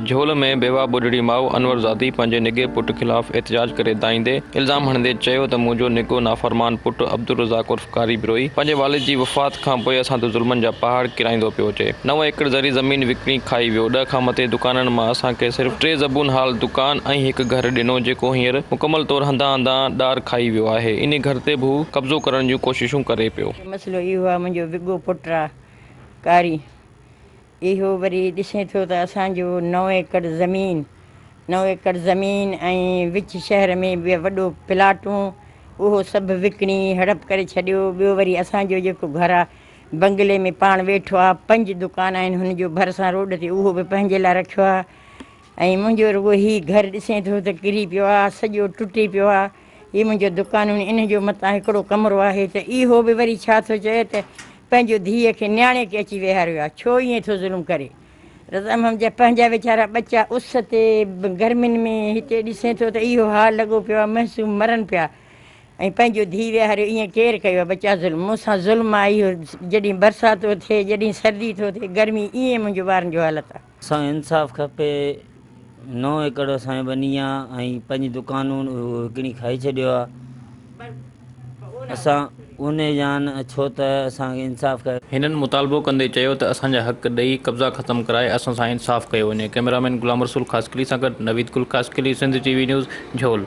جهول ۾ بيواه ٻڍڙي ماء انورزادي پنهنجي نگي پٽ خلاف احتجاج ڪري دانهيندي الزام هڻندي چيو ته منهنجو نگو نافرمان پٽ عبدالرزاق عرف قاري بروهي، پنهنجي والد جي وفات کان پوء اسان تي ظلمن جا پهاڙ ڪيرائيندو پيو اچي. نو ايڪڙ زرعي زمين وڪڻي کائي ويو. ڏهه کان مٿي دڪانن مان اسان کي صرف ٽي زبون حال دڪان ۽ هڪ گهر ڏنو جيڪو هينئر مڪمل طور هنڌان هنڌان ڏار کائي ويو آهي. انهي گهر تي به هو قبضو ڪرڻ جون ڪوششون ڪري پيو. هتي مسئلو اهو آهي منهنجو وڳو پٽ آ قاري. اهو وري ڏسين ٿو ته اسان جو نو ايڪڙ زمين نو ايڪڙ زمين ۽ وچ شهر ۾ ٻه وڏو پلاٽون اهو سڀ وڪڻي هڙپ ڪري ڇڏيو ٻيو وري اسان جو جيڪو گهر آ بنگلي ۾ پاڻ ويٺو آ پنج دڪان آهن هن جو ڀرسان روڊ تي اهو به پنهنجي لاء رکيو آ ۽ منهنجو رڳو هي گهر ڏسين ٿو ته ڪري پيو آ سڄو ٽٽي پيو آ هي منهنجو دڪانون ان جو متان هڪڙو ڪمرو آهي ته اهو به وري ڇا ٿو چئي ته پنهنجو ڌيء کي نياڻي کي اچي ويهاريو آ ڇو ائين ٿو ظلم ڪري رضا محمد جا پنهنجا ويچارا ٻچا اس تي گرمين ۾ هتي ڏسين ٿو ته اهو حال لڳو پيو آ محسوم مرن پيا ۽ پنهنجو ڌيء ويهاريو ائين ڪير ڪيو آ ٻچا ظلم مون سان ظلم آ اهو جڏهين برساتو ٿئي جڏهين سردي ٿو ٿئي گرمي ائين منهنجو ٻارن جو حالت آ. اسان کي انصاف کپي نو ايڪڙ اسان جي ٻني آ ۽ پنج دڪانون اهو وڪڻي کائي ڇڏيو آ اسان اونهي جان ڇو ته اسان کي انصاف ڪيو هنن مطالبو ڪندي چيو ته اسان جا حق ڏئي قبضا ختم ڪرائي اسان سان انصاف ڪيو وڃي ڪئميرا مين غلام رسول خاصخيلي سان گڏ Naveed Gul Khaskheli Sindh T V news جهول.